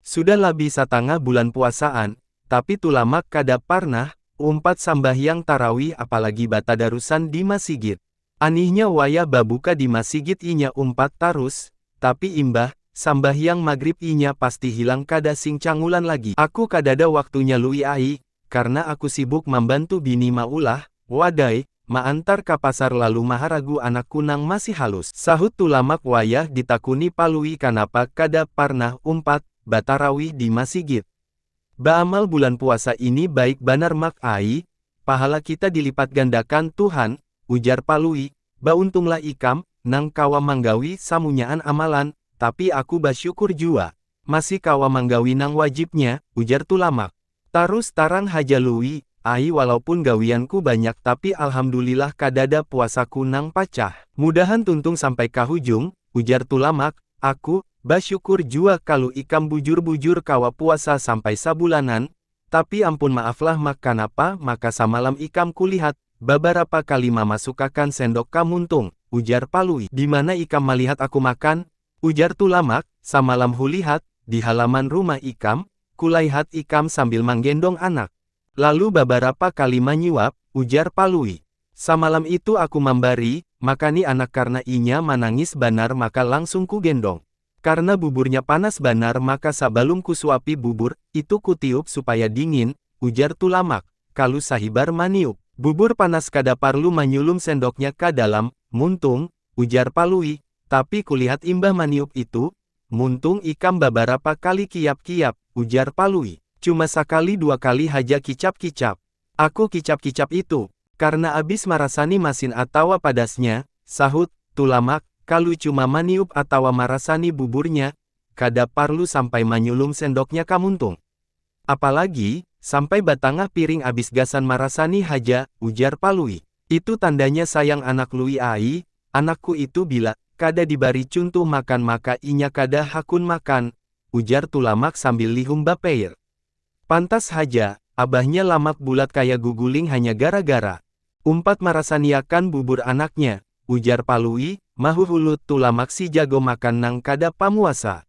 Sudah labih satangah bulan puasaan, tapi Tulamak kada parnah umpat sambahyang tarawih apalagi batadarusan di masigit. Anihnya wayah babuka di masigit inya umpat tarus, tapi imbah sambahyang magrib inya pasti hilang kada sing cangulan lagi. Aku kadada waktunya Lui ai, karna aku sibuk mambantu bini maulah, wadai, maantar ka pasar lalu maharagu anakku nang masih halus. Sahut Tulamak wayah ditakuni Palui kanapa kada parnah umpat batarawih di masigit. Baamal bulan puasa ini baik banar Mak ai, pahala kita dilipatgandakan Tuhan, ujar Palui, bauntunglah ikam nang kawa manggawi samunyaan amalan, tapi aku basyukur jua masih kawa manggawi nang wajibnya, ujar Tulamak. Tarus tarang haja Lui, ai walaupun gawianku banyak tapi alhamdulillah kadada puasaku nang pacah. Mudahan tuntung sampai ka hujung, ujar Tulamak, aku, basyukur jua kalu ikam bujur-bujur kawa puasa sampai sabulanan, tapi ampun maaflah Mak kanapa maka samalam ikam kulihat, babarapa kali mamasukakan sendok ka muntung, ujar Palui. Dimana ikam malihat aku makan, Ujar Tulamak, Samalam hulihat, di halaman rumah ikam, kulaihat ikam sambil manggendong anak. Lalu babarapa kali manyuap, ujar Palui. Samalam itu aku mambari, makani anak karna inya manangis banar maka langsung kugendong. Karna buburnya panas banar maka sabalum kusuapi bubur, itu kutiup supaya dingin, ujar Tulamak. Kalu sahibar maniup. Bubur panas kada parlu manyulum sendoknya ka dalam, muntung, ujar Palui, tapi kulihat imbah maniup itu, muntung ikam babarapa kali kiyap-kiyap, ujar Palui. Cuma sakali dua kali haja kicap-kicap. Aku kicap-kicap itu, karna abis marasani masin atawa padasnya, sahut Tulamak, kalu cuma maniup atawa marasani buburnya, kada parlu sampai manyulum sendoknya ka muntung. Apalagi, sampai batangah piring abis gasan marasani haja, ujar Palui. Itu tandanya sayang anak Lui ai, anakku itu bila kada dibari cuntuh makan maka inya kada hakun makan, ujar Tulamak sambil lihum bapeir. Pantas haja, abahnya Lamak bulat kaya guguling hanya gara-gara umpat marasaniakan bubur anaknya, ujar Palui, mahuhulut Tulamak si jago makan nang kada pamuasa.